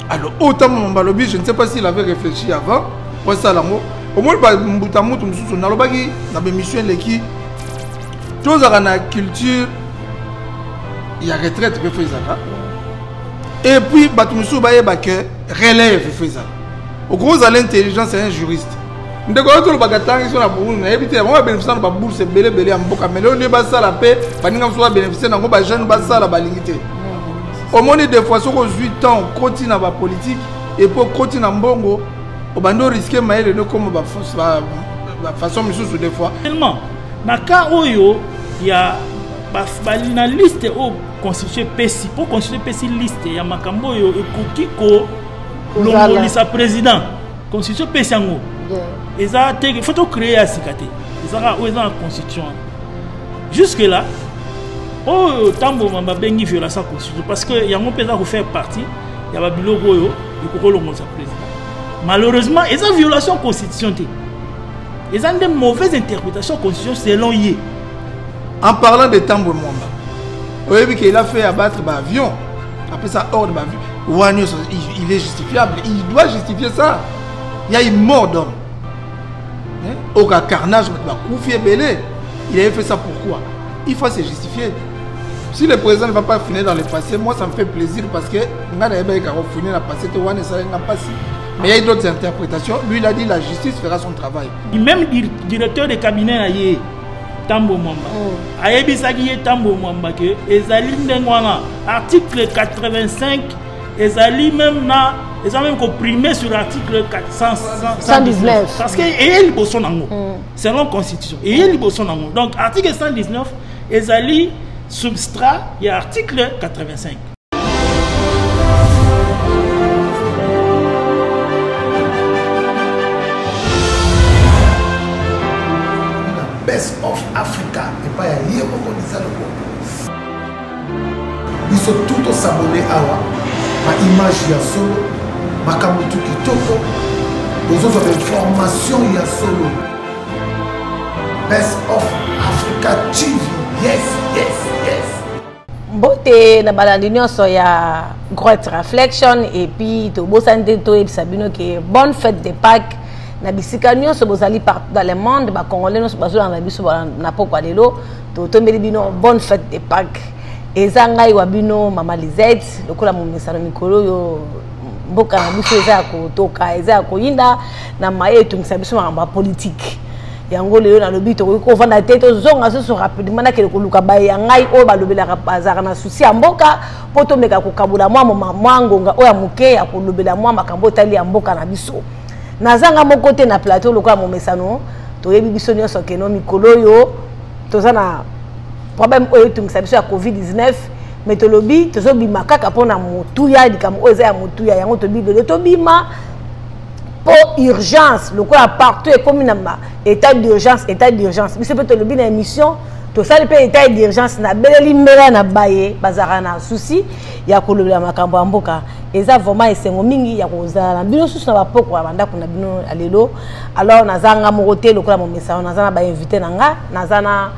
alors oyo ntango mambo alobi je ne sais pas s'il avait réfléchi avant osala yango omoni bambuta mutu mosusu nalobaki na bémission eleki tozalaka na culture ya retraite mpe fo ezalaka et puis bato mosusu bayeba ke relève fo ezala okoki ozala intelligence ya un juriste ndeko yo tolobaka ntangi so na burundi nayebi te yango babenefisia na babourse ebele ebele ya mboka me lelo nde basala mpe baninga mosusu babenefisia na yango bajeune basala balingi te omoni des fois soki ozwi temps okoti na bapolitike epuis okoti na mbongo obandi oriske mayele nokoma bafaçon misusu des fois tellement na cas oyo ya na liste oyo constitution epesi mpo constitution epesi liste ya makambo oyo ekoki kolongolisa président constitution epesi yango eza te fo tocreye ya sika te ezaka oyo eza na constitution Jusque là, oyo ntango babengi violation ya constitution parce que yango mpe eza kofaire partie ya babiloko oyo ekokolongosa président malheureusement eza violation constitution te eza nde mauvaise interprétation constitution selon ye en parlant de tambo mwamba oyebi ke il a fait abattre baavion apesa ordre baavion wana nyonso il est justifiable il doit justifier ça ya imort d'homme hein? oka carnage bato bakufi ebele il avait fait ça pourquoi il faut se justifier si le président ne va pas finir dans le passé moi ça me fait plaisir parce que nga nayebaki kako finir na passé te wana esalaki nga mpasi mais il y a d'autres interprétations lui il a dit la justice fera son travail même directeur de cabinet na ye tambo mwamba oh. ayebisaki ye tambo mwamba ke ezali ndenge wana article 85 ezali meme na eza meme koprime sur article 119 parce que eye liboso nango mm. selon constitution eye liboso nango donc article 119 ezali substrat ya article 85 biso tu tosabone awa baimage ya solo makambo tu kitoko bozozwa bainformation ya solo best of africa tv yes yes yes mbote na balandi nyonso ya great reflection epuis tobosani te toyebisa bino ke bonne fête de pâques na bisika nyonso bozali partout dans le monde bacongolais nyonso bazolanda biso na pokwa lelo totombeli bino bonne fête de paque eza ngai wa bino mama lisette lokola momesano mikolo oyo mboka na biso eza ya kotoka eza ya koyinda na maye etungisa biso makambo ya politike yango lelo nalobi tokoki kovanda te tozonga susu rapidement nakende koluka baye ya ngai oyo balobelaka bazalaka na susi ya mboka mpo tomeka kokabola mwa mwa ngonga oyo ya moke ya kolobela mwa makambo etali ya mboka na biso nazanga moko te na plateau lokola momesano toyebi biso nyonso keno mikolo oyo toza na problème oyo etungisa biso ya covid-19 me tolobi tozobima kaka mpo na motuya likambo oyo eza ya motuya yango tobi lelo tobima mpo urgence lokola partout ekomi na état d'urgence état d'urgence biso mpe tolobi na émission tosali mpe etat d'urgence nabeleli mbela na baye bazalaka na susi ya kolobela makambo ya mboka eza vraiment esengo mingi ya kozala na bino susu na bapoko ya bandako na bino ya lelo alors naza nga moko te lokola momesano naza na bainvité na nga naza na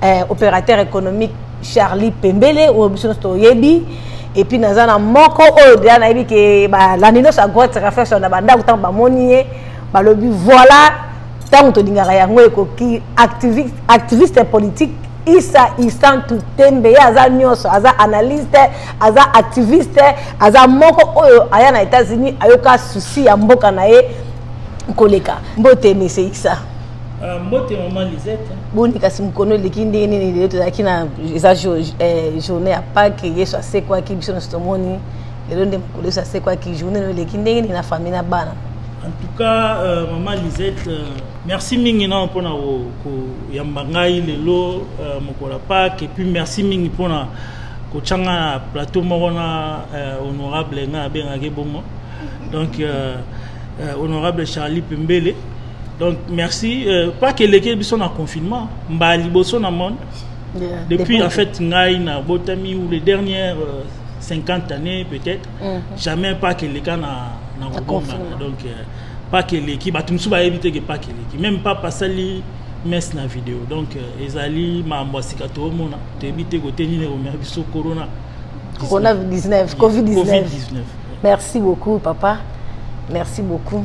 eh, opérateur économique charlie pembele oyo biso nyonso toyebi epuis naza na moko oyo deja nayebi ke balandi nyonso ya grotte reflexion na bandako ntango bamoni ye balobi voilà ntango tolingaka yango ekoki activiste politique isa isantu tembe ye aza nyonso aza analyste aza activiste aza moko oyo aya na états-unis ayoka susi ya mboka na ye koleka mbote mese isa ah, mbote mama lisette boni kasi mokolo eleki ndenge nini lelo tozalaki na eza eh, journée ya pake yesu asekwaki biso nyonso tomoni lelo nde mokolo yesu asekwaki journée lelo eleki ndenge nini na famille na bana En tout cas, euh, maman Lisette, euh, merci mingi na pona ko, ko yamba ngai lelo euh, mokola Pâques et puis merci mingi pona ko changa na plateau moko na euh, honorable nga bengaki bongo. Donc euh, euh, honorable Charlie Pembele. Donc merci euh, pas que leke biso na confinement, mba liboso na monde. Yeah. Depuis en fait ngai na botami ou les dernières euh, 50 années peut-être mhm. jamais pake eleka na na kobongana donc euh, pake eleki bato mosusu bayebi te ke pake eleki meme papa asali messe na video donc euh, ezali makambo ya sika toomona toyebi te kote nini ekomema biso corona corona 19 covid 19 merci beaucoup papa merci beaucoup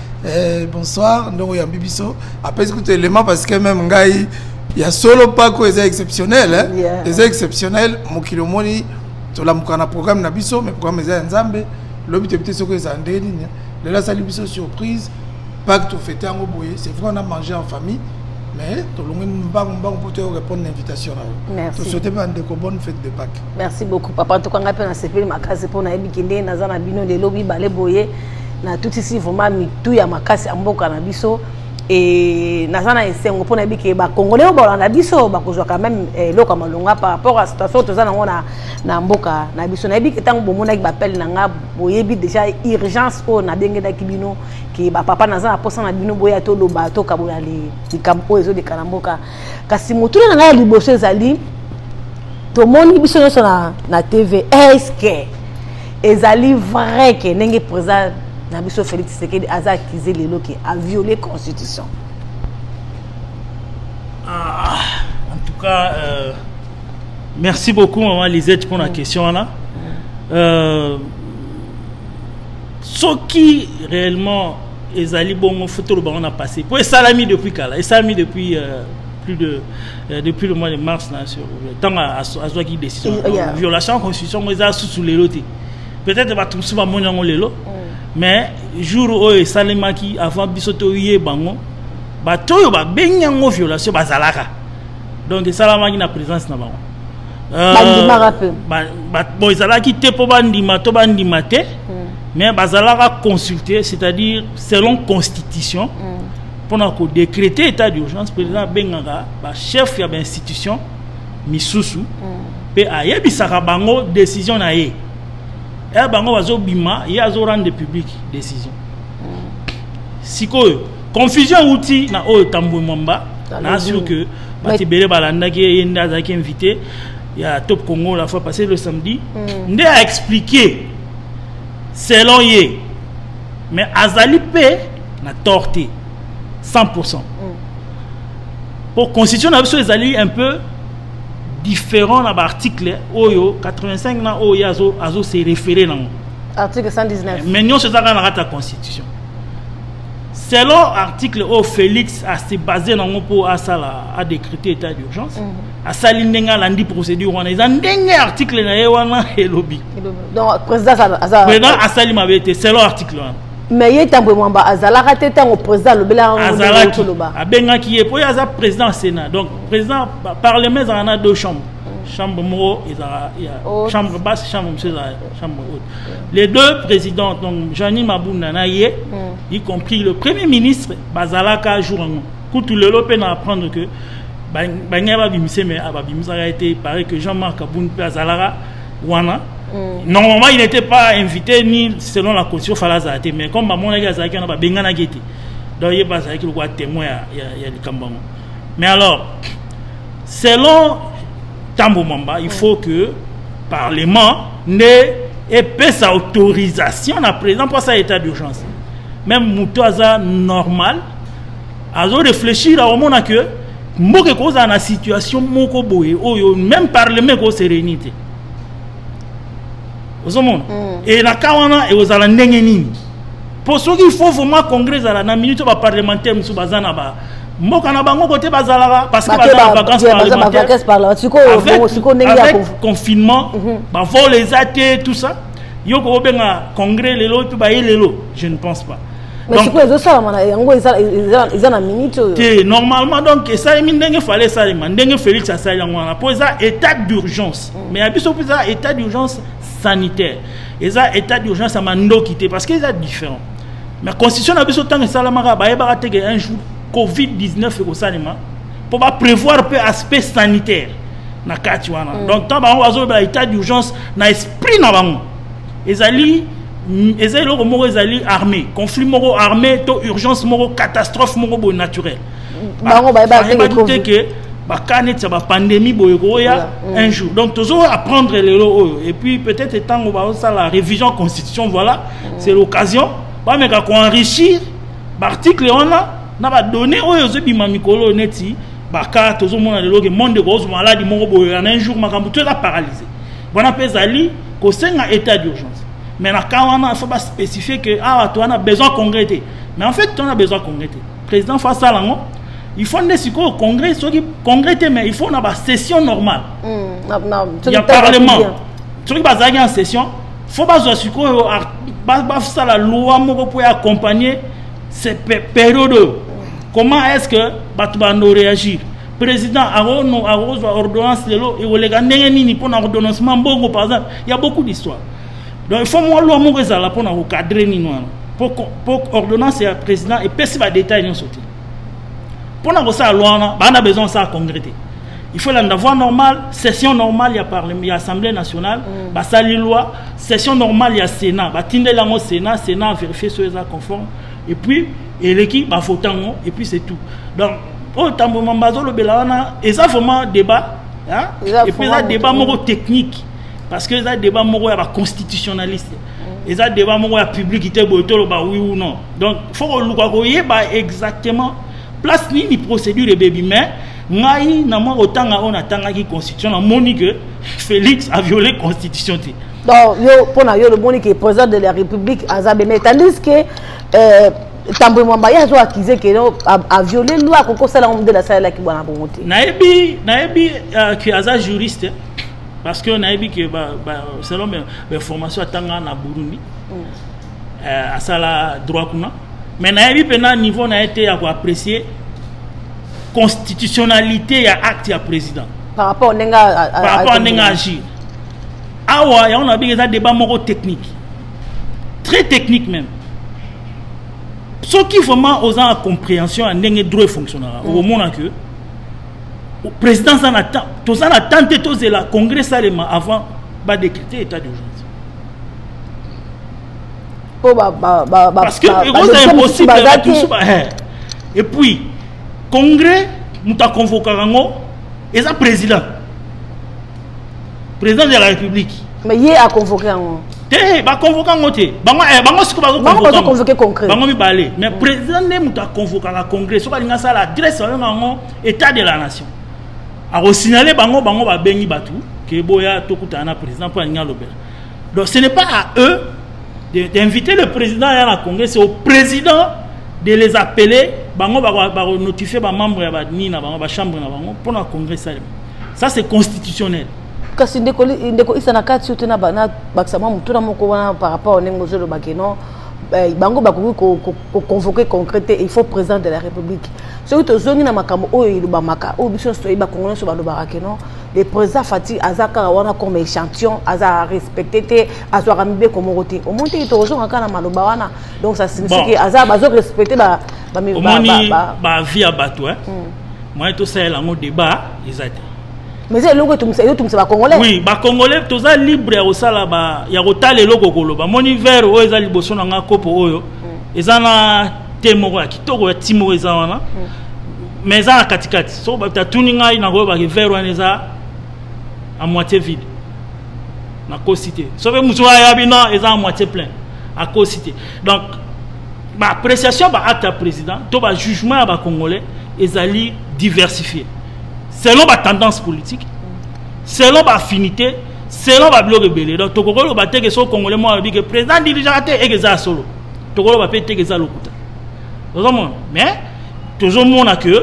Eh, bonsoir ndongo yambi biso apesi kutu élément parce que même ngai ya solo pako eza exceptionnel hein? yeah. eza exceptionnel mokili omoni tolamuka na programme na biso mais programme eza ya nzambe lobi toyebi te soki ezala ndenge nini lelo asali biso surprise pake tofete yango boye c'est vrai on a mangé en famille mais tolongwi mbangu mbangu mpo toyo répondre na invitation na yo tosouhaite mpe bandeko bonne fête de pake merci beaucoup papa ntoka ngai mpe nasepeli makasi mpo nayebi ke ndenge naza na bino lelo mibale boye natutisi vraiment mitu ya makasi ya mboka na biso e naza na esengo mpo nayebi ke bakongole oyo balanda biso bakozwaka meme eh, eloko ya malonga par rapport ya situation toza nango na, na mboka na biso nayebi ke ntango bomonaki bapele na nga boyebi déjà urgence oyo nabengelaki bino ke bapapa naza na mposa na bino boya toloba tokabola likambo oyo ezoleka na mboka kasi motuna na ngai ya liboso ezali tomoni biso nyonso na, na tv eske ezali vrai ke ndenge président na biso félix tshisekedi aza accuse lelo ke aviole constitution ah, en tout cas euh, merci beaucoup maman lisette mpona mm. question wana euh, soki réellement ezali bongo fo toloba yango na passé mpo esalami depuis kala esalami depuis euh, plus de euh, depuis le mois de mars na sur ntango azwaki décision mm, yeah. violation ya constitution yango eza susu lelo te peut-être bato mosusu bamoni yango lelo mm. mais jour oyo esalemaki avant biso toyeba yango bato oyo babengi yango violation bazalaka donc esalamaki na présence na bango Euh, bandimaka mpe bon ezalaki te mpo bandima to bandima te hmm. mais bazalaka consulter c'est-à-dire selon constitution hmm. mpona kodécréter état d'urgence président abengaka bachef ya bainstitution misusu hmm. mpe ayebisaka bango décision na ye eya bango bazobima ye azorendre public décision sikoyo confusion euti na oyo tambwe mwamba na sur que bato ebele balandaki ye nde azalaki invité ya top congo la fois passé le samedi mm. nde a expliqué selon ye mais azali mpe na tort te 100 pourcent mpo mm. constitution na biso ezali un peu différent na baarticle oyo 85 na oyo ye azo se référé nango article 119 mais nyonso ezalaka na kati ya constitution selon article oyo félix ase base nango mpo asala adécrete état d'urgence mm -hmm. asali ndenge alandi procédure wana eza ndenge article na ye wana elobi président asali mabe te selon article wana mais ye tambwe mwamba azalaka te ntango président alobelakaazalaki abengaki ye mpo ye aza président ya sénat donc président parlement ezalaka na deux chambres chambre moko ezalaka oh. chambre basse chambre mosusu ezalaka chambre haute. Les deux présidents, donc Jeanny Mabouna Naye, mm. y compris le premier ministre, Bazalaka Jourango. Koutou Lelo peine à apprendre que Banya Babimise, mais Ababimisa a été, pareil que Jean-Marc Aboun Azalaka, Wana. Mm. Normalement, il n'était pas invité ni selon la constitution Falazate, mais comme Bamon Naye Azalaki, on a Bengana Gete. Donc, il n'y a pas de témoin, il y a du Mais alors, selon tambo mwamba il faut que parlement nde epesa autorisation na président mpo asala état d'urgence même moto aza normal azo réfléchir akomona que mboka ekozala na situation moko boye oyo même parlement ekose réunir te ozomona mm. e na ka wana ekozala ndenge nini mpo soki il faut vraiment congrès ezala na minute baparlementaire mosusu baza na ba mboka na bango kote bazalaka parce que baza na vacances parlementaires par là sikoyo sikoyo ndenge ya confinement mhm. ba vol eza te tout ça yo ko benga congrès lelo pe ba lelo je ne pense pas mais sikoyo ezo sala mana yango eza eza na minute oyo te normalement donc esalemi ndenge fallait esalema ndenge Félix asali yango wana po eza état d'urgence mm. mais ya biso pe eza état d'urgence sanitaire eza état d'urgence ya mandoki te parce que eza différent mais constitution na biso ntango esalamaka bayebaka te ke un jour covid 19 ekosalema mpo baprévoir mpe aspect sanitaire na kati wana mm. donc ntango bango bazolobela état d'urgence na esprit na bango ezali mm, eza eloko moko ezali armée conflit moko armée to urgence moko catastrophe moko boye naturelle bango bayebaki te ke bakaa neti ya bapandemi boye koya mm. un jour donc tozo apprendre lelo oyo et puis peut-être ntango baosala révision constitution voilà mm. c'est l'occasion bameka koenrichir baarticle wana na badonné oyo ezobima mikolo oyo neti bakaa tozomona lelo ke monde ekozo maladi moko boye yana un jour makambo to eza paralyse wana mpe ezali kosenga état d'urgence mais na cas wana il faut baspécifie ke awa ah, to wana besoin congrès te mais en fait to wana besoin congrès te président faut asala yango il faut nde sikoyo congrès soki congrès te mais il faut na basession normale mm, ya parlement soki bazalaki en session faut bazwa sikoyo basala loi moko mpo ya accompagner ce période oyo comment est ce que bato bando réagir président akozwa ordonnance lelo ekoleka ndenge nini mpo na ordonnancement mbongo par exemple ya beaucoup d'histoire donc il faut mwa loi moko ezala mpona kocadre nini wana mpo ordonnance ya président epesi badetail nyonso te mpona kosala loi wana baa na besoin osala congrès te il faut landa voie normale session normale ya parlement ya assemblée nationale mm. basali loi session normale ya sénat batindeli yango sénat sénat vérifie soki eza conforme et puis eleki bavota yango et puis c'est tout donc oyo tambo mamba azolobela wana eza vraiment débat hein? et puis eza débat moko technique parce que eza débat moko ya ba constitutionnaliste mm. eza débat moko ya public te boye toloba oui ou non donc faut koluka koyeba exactement place nini procédure ebebi mais ngai na mwa kotanga oyo natangaki constitution namoni que félix a violé constitution te donc yo mpo na yo lomoni ke président de la république aza beme tandis que euh, tambo mwamba ye azo accuse ke no aviole loi akoki kosala yango modele asalelaki bwana bongo te nayebi nayebi euh, ke aza juriste parce que nayebi ke selon bainformation atanga na burundi mm. eh, asala droit kuna mais nayebi mpena niveau na ye te ya koapprécier constitutionnalité ya acte ya président par rapport ndenge par rapport ndenge agir awa yango nayebi eza débat moko technique très technique même soki vraiment oza na compréhension ya ndenge droit efonctionnaka mm. okomona que président aza na temps toza na temps te tozela congrès esalema avant badécrete état d'urgence po ba, ba, ba, ba, parce que ekoza impossible bato mosusu ba eh. et puis congrès moto aconvokaka yango eza président président de la république mais ye a convoqué yango te baconvoke yango te bango eh, siko bazoconvoke congrès bango mibale mais mm. président nde moto aconvokaka congrès soki alingi asala adresse babenga yango état de la nation akosignale bango bango babengi bato ke boya tokutana na président mpo alingi alobela donc ce n'est pas à eux d'inviter le président ya na congrès c'est au président de les appeler bango bakonotifie bamembre ya banini na bango bachambre na bango mpo na congrès salema ça c'est constitutionnel kasi ndeko ndeko isa na kati te na bakisa mwa motuna moko wana par rapport au ndenge ozoloba ke non eh, bango bakoki koconvoke concret te il faut président de la république soki tozongi na makambo oyo elobamaka oyo biso nyonso toyebi bakongo nyonso balobaka ke non le président fati aza kaka wana comme échantillon aza respecte te azwaka mibeko moko te omoni teke tokozonga kaka na maloba wana donc ça signifie ke aza bazo respecte bamoni bavie ya bato hmm. moyen tosalela yango débat eza te mais eza eloko ezotumisa bacongolais oui bacongolais toza libre ya kosala ya kotala eloko okoloba moni vere oyo eza liboso na ngai kopo oyo mm. eza na te moko ya kitoko ya ti moko eza wana mm. mais eza na katikati soko bato atuni ngai nakoyebaki vere wana eza a moitié vide nakosi te soki mosusu ayabi no eza a moitié plein akosi te donc ba appréciation ba acte ya président to ba jugement ya ba congolais ezali diversifié selon ba tendance politique selon ba affinité selon ba biloko ebele donc tokoki oloba te ke so congolais moko alobi ke président dirigeaka te eke eza ya solo tokoki oloba mpe te ke eza lokuta ozomona mais tozomona ke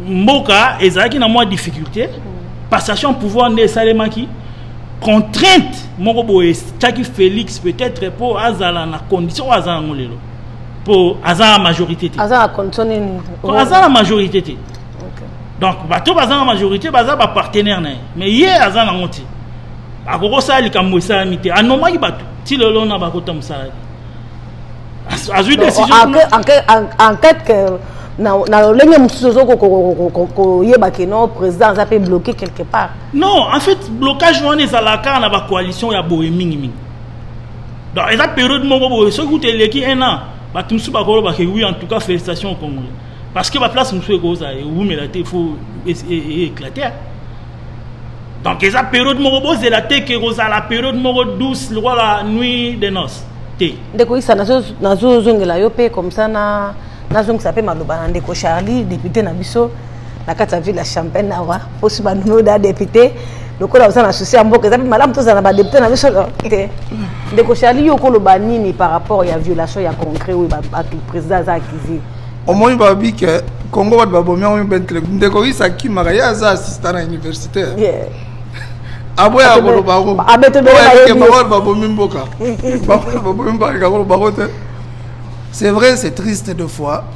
mboka ezalaki na mwa difficulté passation pouvoir nde esalemaki contrainte moko boye etyaki félix peut-être mpo azala na condition oyo aza yango lelo mpo aza na majorité te aza na condition nini aza na majorité te donc bato baza na majorité baza bapartenaire na ye mais ye aza nango te akoki kosala likambo esalami te anomaki bato ti lelo na bakota mosala te azwi décision enquête que na lolenge mosusu ozokoyeba keno président aza mpe bloqué quelque part non en fait blocage wana ezalaka kaka na bacoalition ya boye mingimingi donc eza période moko boye soki kutu eleki un an bato mosusu bakolobaka oui en tout cas félicitation au congolais parce que baplace mosusu ekozala ewumela te fo éclate donc eza période moko bozela te ke kozala période moko douce lokola nuit de noce te ndeko isa nazozongela yo mpe comme ça nazongisa mpe maloba na ndeko charlie député na biso na kati ya ville ya champagne awa posi banduno da depute lokola oza na souci ya mboka eza mpe malamu tozala na badepute na biso te ndeko charli yo okoloba nini par rapport ya violation ya concret oyo bato président aza accusé omoni babi ke congo bato babomi yango mpe intellect ndeko isa akimaka ye aza assistant na universitaire yeah. aboya koloba yango bango babomi mboka babomi mboka koloba yango te c'est vrai c'est triste de fois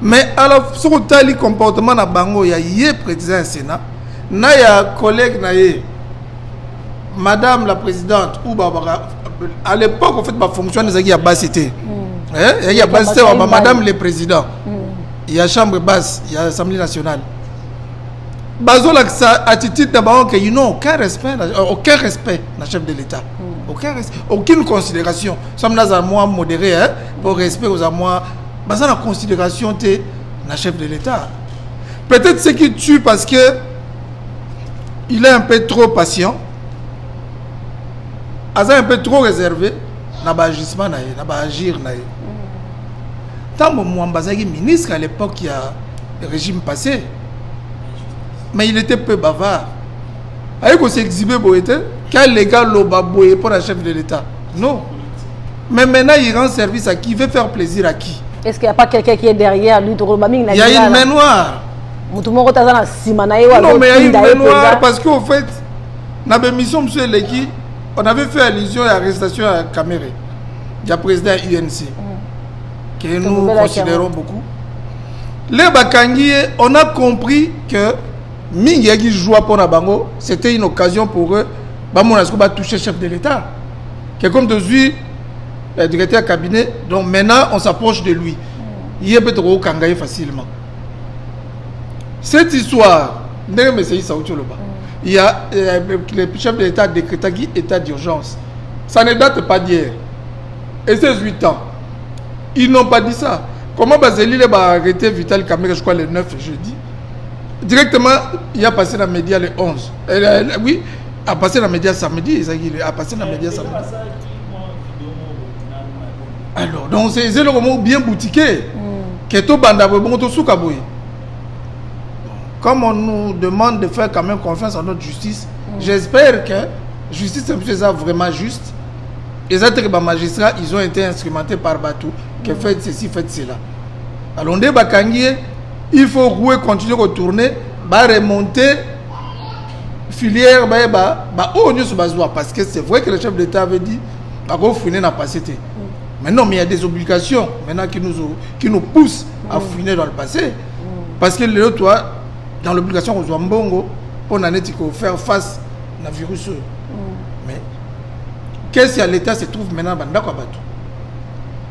mais ala soki otali comportement na bango ya ye président ya sénat na ya collègue na ye madame la présidente ou babaka à l'époque en fait bafonction wana ezalaki ya basi te hmm. eh, ezalaki ya basi te ba madame le président hmm. ya chambre basse ya assemblée nationale bazolakisa attitude na bango ke ino aucun respect euh, aucun respect na chef de l'état hmm. aucun aucune considération soki nazala mwa modéré hein, po respect oza mwa baza na considération te na chef de l'état peut-être ce qui tue parce que il est un peu trop patient aza un peu trop réservé na baagissement na ye na baagir na ye ntango mwamba azalaki ministre à l'époque ya régime passé mais il était peu bavard aye kosexhibe boye te qu'un légal loba boye mpo na chef de l'état non mais maintenant il rend service à qui veut faire plaisir à qui est-ce qu'il n'y a pas quelqu'un qui est derrière lui tokoloba mingi na il y a une main noire moto moko te aza na nsima na ye non mais il y a une main noire parce qu'au fait na bémission mosusu eleki on avait fait allusion ya arrestation ya camere ya président ya unc mm. que nous considérons beaucoup le bakangi ye on a compris que mingi yaki joie mpo na bango c'était une occasion pour eux bamona siko batouche chef de l'état que comme tozwi eh, directeur ya cabinet donc maintenant on s'approche de lui ye mpe tokokanga ye facilement cette histoire ndenge mesei sauti oloba il y a euh, le chef de l'état décrétaki état d'urgence ça ne date pas d'hier et c'est 8 ans ils n'ont pas dit ça comment bazeli le baarrêté vital kamere je crois le 9 jeudi directement il y a passé na média le 11 euh, oui a passé na média samedi ezalaki a passé na média samedi alors donc c'est eloko moko bien boutiqué hmm. ke tobanda boye bongo tosuka boye comme on nous demande de faire quand même confiance en notre justice mm. j'espère que justice mpe eza vraiment juste eza teke bamagistrat ils ont été instrumentés par bato que mm. faites ceci faites cela alors nde bakangi ye il faut roue continue kotourne baremonte filière bayeba baoyo nyonso bazwa parce que c'est vrai que le chef de l'état avait dit bakofouine na passé te mais non mais il y a des obligations maintenant qui nous, qui nous poussent à fouiner dans le passé parce que lelo toi dans l'obligation kozwa mbongo mpo na neti kofaire face na virus oyo mais kesi ya l'état se trouve maintenant na bandako ya bato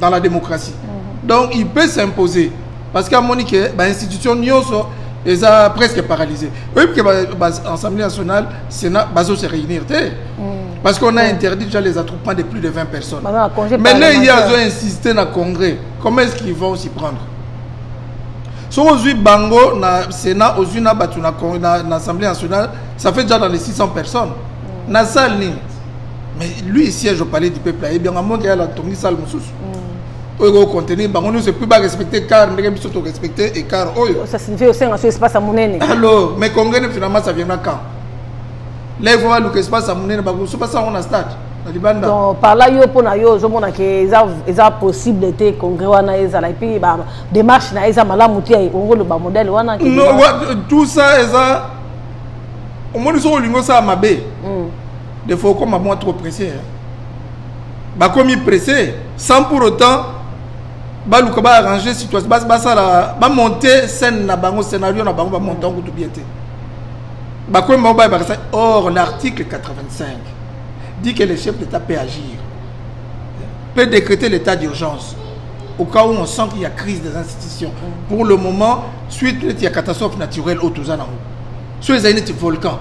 dans la démocratie mhm. donc il peut s'imposer parce qu'amoni ke bainstitution nyonso eza presque paralysé oyebi ke baassemblée nationale sénat bazo se réunir te mhm. parce qu'on a interdit déjà les attroupements de plus de 20 personnes maintenant ye azo insister na congrès comment est-ce qu'ils vont s'y prendre soki ozwi bango na sénat ozwi na bato na assemblée nationale ça fait déjà dans les 600 personnes mm. na salle nini mais lui siège au palais du peuple ayebi yango amonaki yala atongi sale mosusu mm. oyo ekocontenir bango nyonso epuis barespecte car ndenge biso torespecte écart oyo oh, osenga so espace ya monene alors mais congene finalement ça viendra quand là il faut baluka espace ya monene bakosu basala yango na stade na libanda donc par là yo mpo na yo ozomona ke eza possible te congrès wana ezala epuis bademarche na ye eza malamu te ongoloba modèle wana tout ça eza omoni soki olingi osala mabe mm. des fois okoma mwa trop pressé hein? bakomi pressé sans pour autant baluka baarrange situation basala bamonte scène na bango scénario na bango bamonte yango kutu bien te bakomi bango bayebaka sa or l'article 85 dit que le chef d'état peut agir peut décréter l'état d'urgence au cas où on sent qu'il y a crise des institutions pour le moment suite il y a catastrophe naturelle au tozana soki ezali neti volcan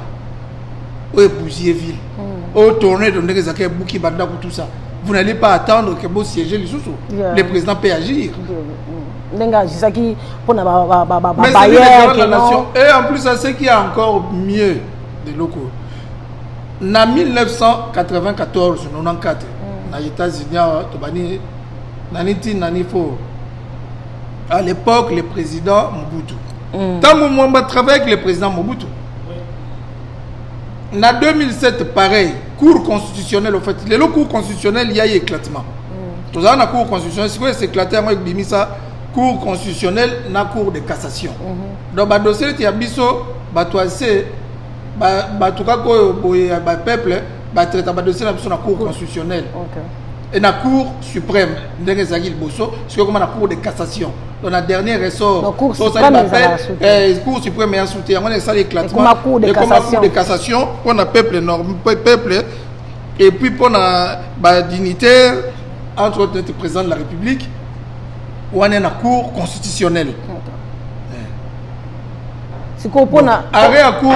oyo ebuzie ville hmm. oyo tourne to ndenge ezalaki ebuki bandako tout ça vous n'allez pas attendre que bosiége lisusu le président peut agir hmm. ndenge agisaki mpo na babayernation et en plus à ce qui est encore mieux de loko na 1994 94 hmm. na états-unis awa tobani nani ntina nani fo à l'époque le président mobutu ntango mm. mwamba travaille avec le président mobutu na 2007 pareil cour constitutionnelle au fait lelo cour constitutionnelle ya ye éclatement mm. tozala na cour constitutionnelle sikoyo eséclate yango ekobimisa cour constitutionnelle na cour de cassation mm-hmm. donc badossier neti ya biso bato ya se bato kaka oyo boye ya bapeuple batraita badossier na biso na cour constitutionnelle et na cour suprême ndenge ezalaki liboso soki ekoma na cour de cassation donc na dernier ressort tosali bapel eh, cour suprême ya soute yango na esali éclatement ekoma cour de cassation mpo na peuple norme peuple et puis mpo na badignitaire entre autres neti président de la république wana na cour constitutionnelle sikoyo mpo na arrêt ya cour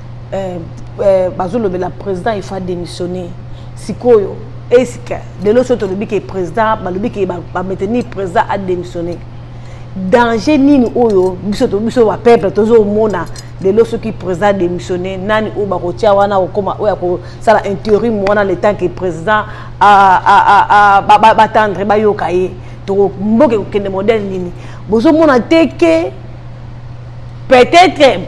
eh, eh, bazolobela président il faut démissionner sikoyo esika lelo soki tolobi ke président balobi ke bameteni président adémissionner danger nini oyo biso biso bapeuple tozomona lelo soki président adémissionner nani oyo bakotia wana kokoma oyo akosala interim wana le temps ke président batendre bayoka ye tokomboka ekokende modèle nini bozomona te ke peut-être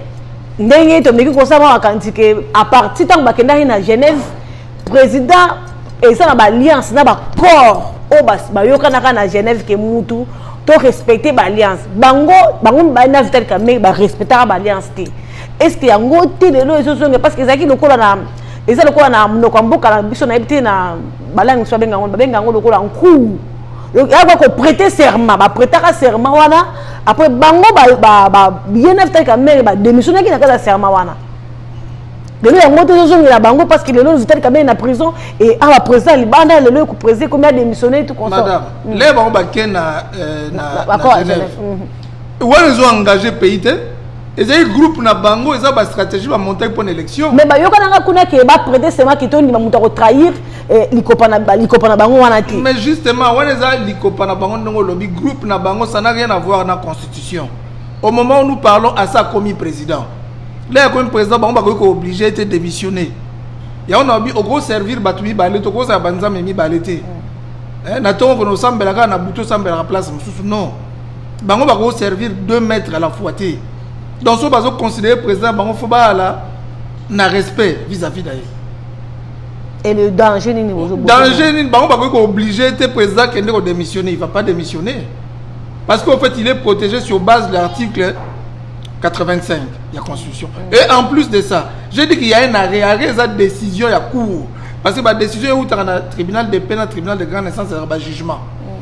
ndenge tomeki kosala makanisi ke à partir ntango bakendaki na genève président eza na baalliance na bacorps oyo bayokanaka na genève ke mutu to respecte baalliance bango bango mibali na vital kame barespectaka baalliance te est ce que yango te lelo ezozonga parce que ezalaki lokola na eza lokola na monoko ya mboka na biso nayebi te na balangi biso babenga yango babenga yango lokola nkou yako ko prêter serment ba prêtaka serment wana après bango ba ba ba bien after ka mère ba démissionner ki na kala serment wana lelo yango te ezozongela bango parce que lelo vitali kamei na prison et awa président libanda lelo ekoprésident ekomi adémissionne tout consmadame mm. le bango bake na euh, genève wana ezo engage pays te ezali groupe na bango eza ba stratégie ba montage mpo na élection mais bayokananga kuna ke baprete sema ke tondima moto akotrahir eh, likopa na bango wana te mais justement wana eza likopa na bango ndenge olobi groupe na bango ça n'a rien à voir na constitution au moment où nous parlons asi akomi président lei akomi président bango bakoki kooblige ete démissionner yango na babi okoservir bato mibale te okozala banzambe mibale te mm. eh, na ntongo kona osambelaka na butu osambelaka place mosusu non bango bako servir deux mètres à la fois te donc soki bazo considérer président bango fo baala na respect vis-à-vis na ye et le danger nini danger nini bango bakoki kooblige te président kende kodémissionner il va pas démissionner parce qu'en fait il est protégé sur base de l'article 85 ya constitution mm. et en plus de ça j'ai dit qu'il y a un arrêt arrêt eza décision ya cour parce que badécision eutaka na tribunal de paix na tribunal de grande instance ezaka bajugement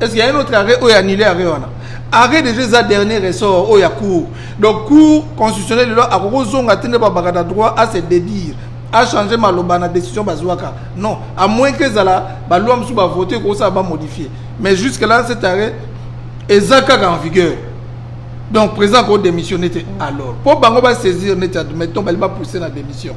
est ce qu'il y a un autre arrêt oyo annule arrêt wana arrêt déjà eza dernier ressort oyo ya cour donc cour constitutionnel lelo akoki ozonga te nde babaka na droit à se dédire achanger maloba na décision bazwaka non à moins que ezala baloi mosusu bavote ekokosala bamodifie mais jusque là cet arrêt eza kaka en vigueur donc président ko démissionne te alors mpo bango basaisir neti admettons bali bapousse na démission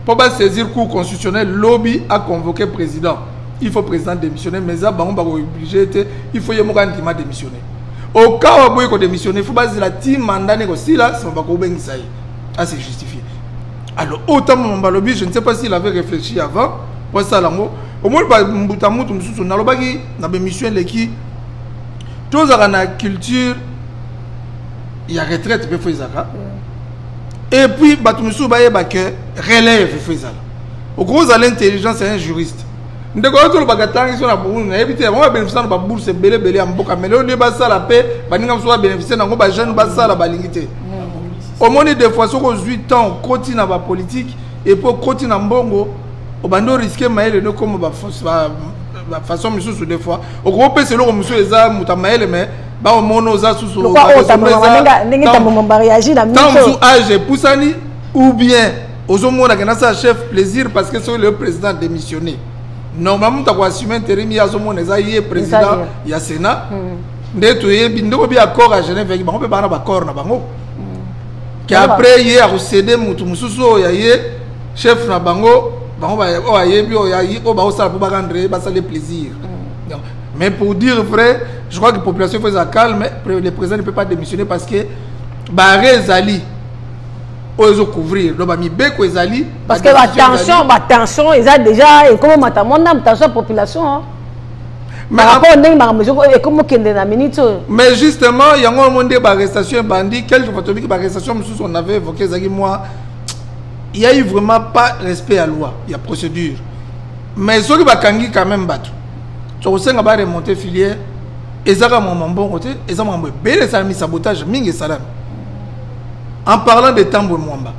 mpo mm. basaisir cour constitutionnel lobi aconvoque président il faut président démissionner mais eza bango bakooblige te il faut ye moko andima démissionner okawa boye kodémissionner il faut bazela ti mandat ne kosila nsima bakobengisa ye ase justifie alors oyo ntango mambo alobi je ne sais pas s'il avait réfléchi avant po asala yango omoni bambuta mutu mosusu nalobaki na bémission eleki tozalaka na culture ya retraite mpe fo ezalaka et puis bato mosusu bayeba que relève fo ezala okoki ozala intelligence ya un juriste ndeko yo tolobaka ntangi so na burundi nayebi te yango babeneficia na babourse ebele ebele ya mboka mai lelo nde basala mpe baninga mosusu babeneficie na yango bajeune basala balingi te omoni des fois soki ozwi temps okoti na bapolitike epuis okoti na mbongo obandi oriske mayele nokoma bafaçon misusu des fois okoki opesa eloko mosusu eza moto ya mayele mai baomona oza susutango mosusu age epusani ou bien ozo mona ke nasala chef plaisir parce que soki le président démissionné normalement moto akoassume interim ye azomona eza ye président ya sénat hmm. nde toyebi ndeko bi accord ya genève yaki bango mpe baa na baaccord na bango hmm. ke après ye akosede motu mosusu oyo ya ye chef na bango bango oyo ayebi oyo oyo bakosala mpo bakandre ye basali plaisir hmm. mais pour dire vrai je crois que population faut eza calme le président ne peut pas démissionner parce que bare ezali oyo ezo couvrir donc bamibeko ezali parce que batension batension eza déjà ekomi mata mwa ndambo tension ya population rapport ndenge makambo ekomi okende na minute oyo mais justement yango yango nde baarrestation ebandi quelque fois tobiki baarrestation mosusu on avait évoqué ezalaki mwa il y a eu vraiment pas respect ya loi ya procédure mais soki bakangi quand même bato tokosenga baremonte filière ezaka makambo mbongo te eza makambo ebele esalami sabotage mingi esalami en parlant de tambwe mwamba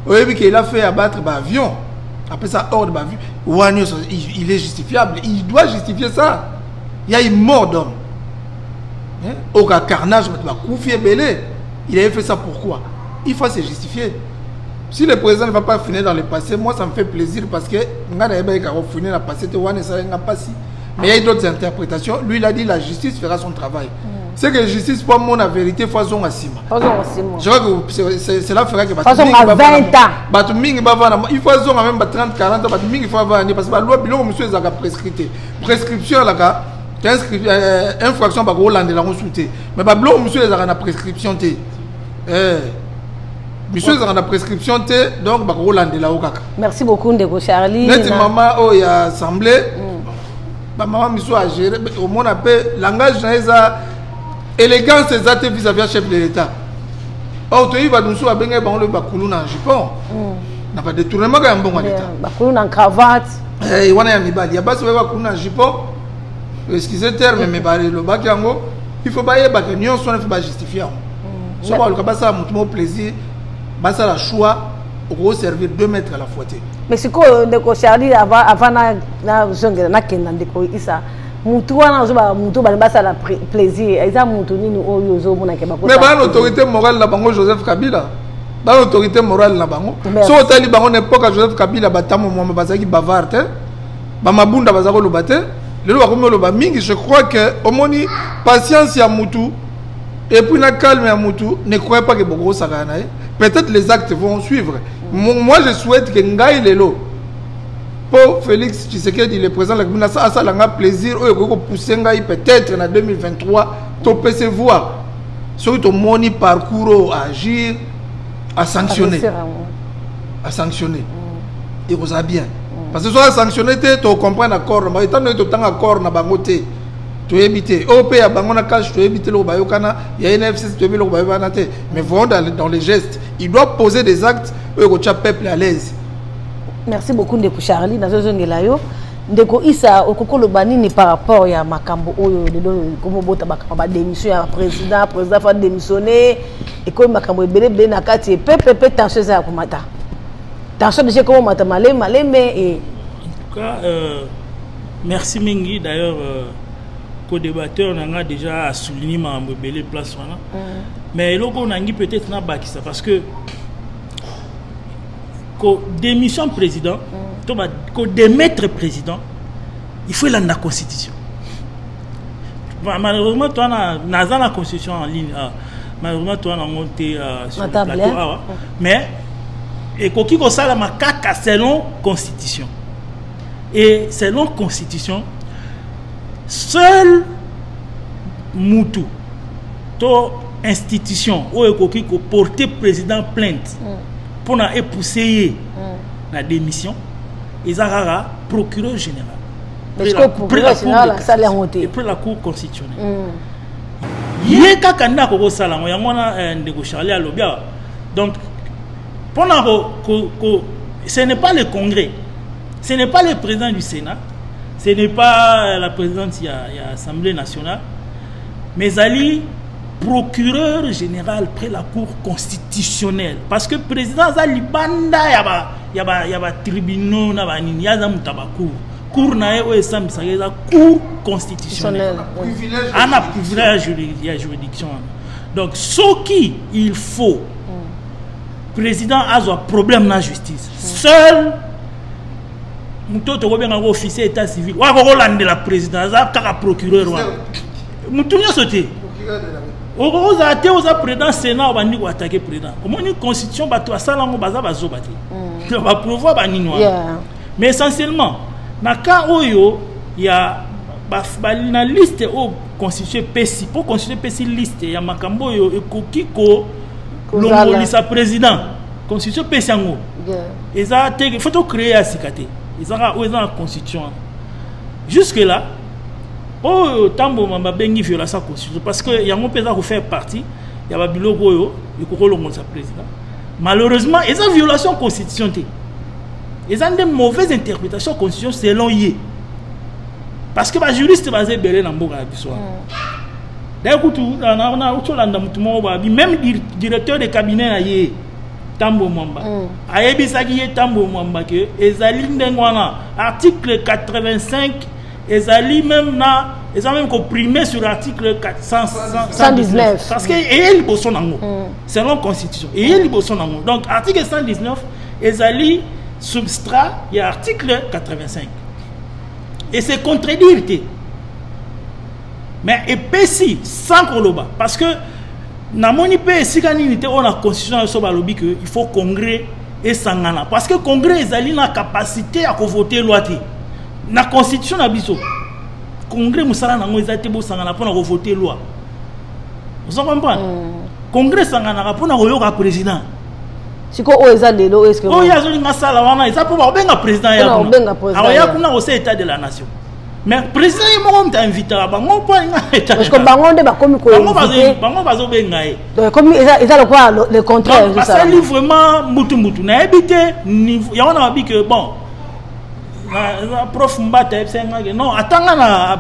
oyebi ke il a fait abattre ba avion apesa ordre ba avion wana nyonso il est justifiable il doit justifier ça il y a une mort d'homme hein? oka carnage bato bakufi ebele il avait fait ça pourquoi il faut se justifier si le président ne va pas finir dans le passé moi ça me fait plaisir parce que nga nayebaki kako finir na passé te wana esalaki nga mpasi mais il y a eu d'autres interprétations lui il a dit la justice fera son travail mm. c'est que justice po amona vérité fo azonga nsima je crois que cela fera que bato mingi bavanda il faut azonga même ba 30 40 bato mingi fo avanda nde parce que balwa biloko mosusu ezalaka prescrite prescription elaka euh, infraction bakolandela yango su te mais babiloko mosusu ezalaka na prescription te eh. biso ezalaka na prescription te donc bakoki kolandela yo kaka merci beaucoup ndeko charlie neti mama oyo ya assemblée mm. bamama misu agere omona mpe langage na ye eza élégance eza te vis-à-vis ya chef de l'état or toyebi bato mosusu babengaki bango lobi bakulu na jupon mm. na badetournemaka ya mbongo ya leta bakulu na cravate eh, wana ya mibali ya basi baye bakulu na jupon excuse terme me balobaki yango il faut bayebaka nyonso wana mpe bajustifie yango soki baluka basala motu moko plaisir basala choix okoki servir deux mètres à la fois te mais sikoyo ndeko charlie avant nazongela nakenda ndeko isa mutu wana ozoba mutu bani basala plaisir eza mutu nini oyo ozomonake mais bana autorité morale na bango joseph kabila bana autorité morale na bango soki otali bango na epoka joseph kabila batambo mwamba bazalaki bavard te bamabunda baza koloba te lelo bakomi oloba mingi je crois que omoni patience ya mutu Et puis na calme ya mutu ne croyez pas que boko sakana na ye. Peut-être les actes vont suivre. Mm. Moi je souhaite que ngai lelo po Félix Tshisekedi le président la Kabila ça ça langa plaisir oyo ko pousser ngai peut-être na 2023 to pese voir soki to moni parcours à agir à sanctionner à sanctionner mm. et vous a bien mm. parce que soit sanctionner te to comprendre accord mais étant donné to tanga accord na bango te toyebi te oyo mpe ya bango na cash toyebi te eloko bayokana ya nfc toyebi eloko bayokana te mais voyons dans les gestes il doit poser des actes oyo ekotya peuple à l'aise merci beaucoup ndeko charlie nazozongela yo ndeko isa okoki koloba nini par rapport ya makambo oyo lelo komobota makambo badémission ya président président fa démissionne ekomi makambo ebele ebele na kati epepe mpe tension eza ya komata tension deja ekomomata malembe malembe e merci mingi d'ailleurs euh, co-débatteur na nga déjà a souligné makambo ebele place wana mm. mais eloko nangi peut-être nabakisa parce que ko démission président mm. to ba ko démettre président il faut elanda constitution malheureusement toi na naza na constitution en ligne ah, malheureusement toi na ngo te ah, sur le plateau awa ah, mais ekoki kosalama kaka selon constitution et selon constitution seul mutu to institution oyo ekoki koporte président plainte mpona mm. epousse ye mm. na démission eza kaka procureur général après la cour constitutionnelle mm. ye kaka nde akoki kosala yango yango wana eh, ndeko charlie alobi awa donc mpona ko, ko, ko, ce n'est pas le congrès ce n'est pas le président du sénat ce n'est pas la présidente ya, ya assemblée nationale mais ezali procureur général près la cour constitutionnelle parce que président aza libanda ya ba ya ba ya ba tribunaux na banini aza moto ya bacour cour na ye oyo esambisaka eza cour constitutionnelle ana privilège ya juridiction wana donc soki il faut mm. président azwa problème na justice seul moto tokobenga yango officier état civil oyo akoki kolandela président aza kaka procureur wana motu nyonso te ozala te oza président sénat obandi koatake président omoni constitution bato basala yango baza bazoba te mm. baprouvoir banini wana mais essentiellement na cas oyo ya na liste oyo constitution epesi mpo constitution epesi liste ya makambo oyo ekoki kolongolisa président constitution epesi yango eza te il faut tocreye ya sika te ezaka oyo eza na constitution wana jusque là oyo oh, tamboma babengi violence ya constitution parce que yango mpe eza kofaire partie ya babiloko oyo ekoki olongolisa président malheureusement eza violation constitution te eza nde mauvaise interprétation constitution selon ye parce que bajuriste baza ebele na mboka ya biso wana mm. D'ailleurs, kutu na na na ocholanda mutu moko ba bi même dir- directeur de cabinet na ye Tambo Mwamba. Mm. Ayebisaki ye Tambo Mwamba que ezali ndenge wana article 85 ezali même na eza même ko primer sur article 400 119. parce que eye liboso nango selon constitution eye liboso nango donc article 119 ezali substrat ya article 85 et c'est contredire te mais epesi sans koloba parce que namoni mpe esika nini te oyo na constitution na biso balobi que il faut congrès esangana parce que congrès ezali na capacité ya kovote loi te na constitution na biso congrès mosala na yango eza te bosangana mpo na kovote loi ozo comprendre mm. congrès esanganaka mpo na koyoka président sikoyo oyo eza lelo oyo eske oyo azolinga asala wana eza mpo bakobenga président ya kuna akoya kuna kosala état de la nation mais président ye moko moto ainvitaka bango mpo alingaparceque bango nde bakomi bango bazobenga ye ekomi eza lokola le contraire basali vraiment mbutu mbutu nayebi te niveau yango na babi ke bon prof mbata yebisaki ngake non atanga na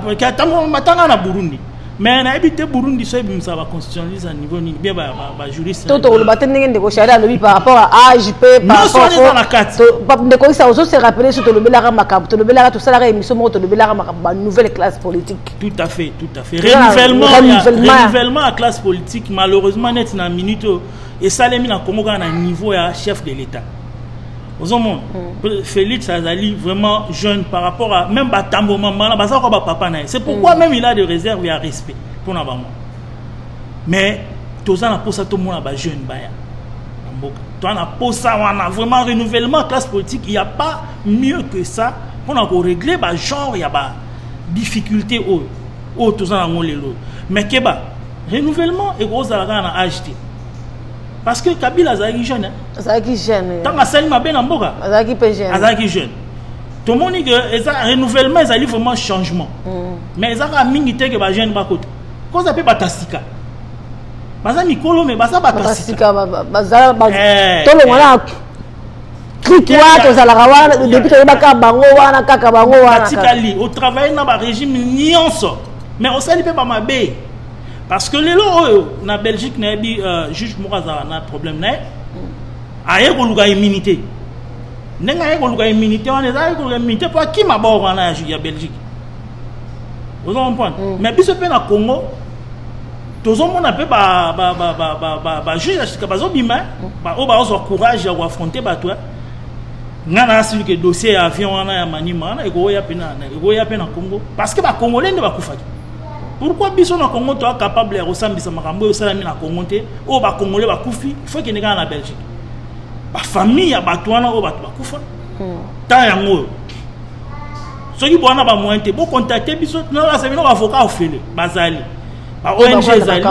atanga na burundi mais nayebi te burundi so ebimisaka baconstitutionnaliste ya niveau nini bie bajuriste to tokoloba te ndenge ndeko shari alobi par rapport ya age mpe parapporteza na kati ndeko isa ozo se rappele so tolobelaka makambo tolobelaka tosalaka émission moko tolobelaka makambo ba nouvelle classe politique tout à fait tout à fait renouvellement ya classe politique malheureusement neti na minute oyo esalemi na congo kaka na niveau ya chef de l'état ozomona mm. félix azali vraiment jeune par rapport à même batambo mamana baza kwa bapapa na ye c'est pourquoi mm. même il a de réserve ya respect mpo na bango mais toza na mposa tomona bajeune baya na mboka toza na mposa wana vraiment renouvellement classe politique il y a pas mieux que ça mpo na koregle bagenre ya ba difficulté oyo oyo toza na yango lelo mais keba renouvellement ekozala kaka na age te parce que kabila azalaki jeune hein? azalaki jeune ntango asali mabe na mboka azalaki mpe jeune azalaki jeune tomoni ke eza renouvellement ezali vraiment changement mm. mais eza kaka mingi te ke bajeune bakota koza mpe bato ya sika baza mikolo me baza bato ya sika eh, tolongolaa eh. trike wana tozalaka wana depuis toyebaka bango wana kaka bango wanatikali otravaille na barégime nyonso mais osali mpe bamabe parce que lelo oyo na belgique nayebi uh, juge moko azala na problème naye aye koluka immunité ndenge aye koluka immunité wana eza aye koluka immunité mpo akima bor wana ya, ya belgique ozo comprendre mm. mais biso mpe na congo tozomona mpe bajuge ya sika bazobima baoyo baozwa courage ya koaffronte bato ngai naasili ke dossier ya avion wana ya manima wana ekoya mpe na congo parce que bacongolais nde bakufaki pourquoi biso na congo toa capable ya kosambisa makambo oyo esalami na congo te oyo bakongole bakufi ifo ekende kaka na belgique bafamille ya bato wana oyo bato bakufa hmm. temps yango oyo soki bowana bamoyen te bocontacte biso nalasa bino baavocat ofele bazali baong ezali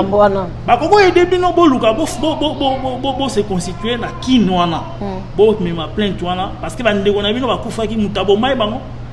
bakoki oyede bino boluka bose constitue na kine wana hmm. bomema plainte wana parce que bandeko na bino bakufaki moto abomai bango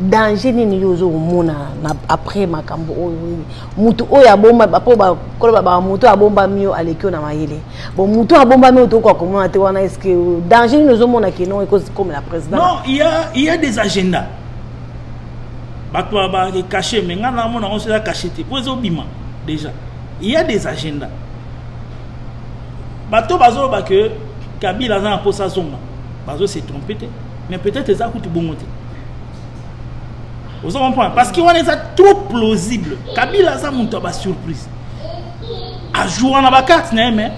danger nini yo ozo komona na après makambo oyo nini motu oyo abomba mpo bakoloba ba motu abombami yo aleki yo na mayele bon motu abombami oyo tokoka komona te wana est ce que danger nini ozomona keno ekokomela président non il y a, il y a des agendas bato babaki cache mais ngai namona yango soza cache te mpo ezobima déjà il y a des agendas bato bazoloba ke kabila aza na mposa azonga bazo se trompe te mais peut-être eza kutu bongo te ozo comprendre parce que wana eza trop plausible kabila aza moto ya basurprise ajoua na bacarte na ye mais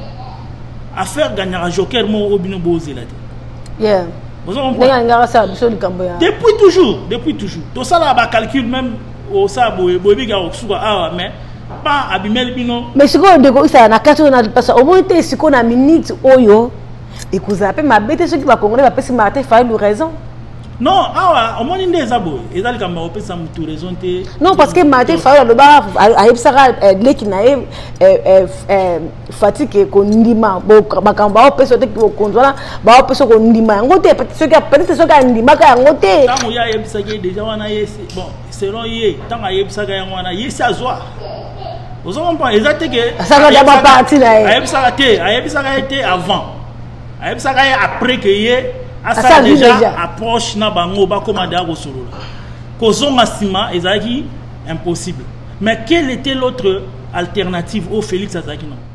affaire gagnaka joker moko oyo bino bozela te yeah. depuis toujours depuis toujours tosalaka bacalcul même osala boye boyebi kaka kosuka awa mais pa abimeli bino mais sikoyo ndeko isala na kati oyo napasa omoni te sikoyo na minute oyo ekozala mpe mabe te soki bacongolais bapesi martin fayulu raison non awa omoni nde eza boye eza likambo akopesa motu raison te non parce que martin fayulu aloba ayebisaka eh, leki na ye eh, eh, fatike kondima makambo baopesa te bokonzi wana baopesa kondima yango te peut-être soki andimaka yango te ntango ye ayebisaki ye deja wana ye bon selon ye ntango ayebisaka yango wana ye si azwa ozo comprendre eza te ke asaka da ba parti na ye ayebisaka te ayebisaka ye te avant ayebisaka ye après que ye asala déjà approche na bango bakoma deya kosolola kozonga nsima ezalaki impossible mais quelle était l'autre alternative oyo félix azalaki nango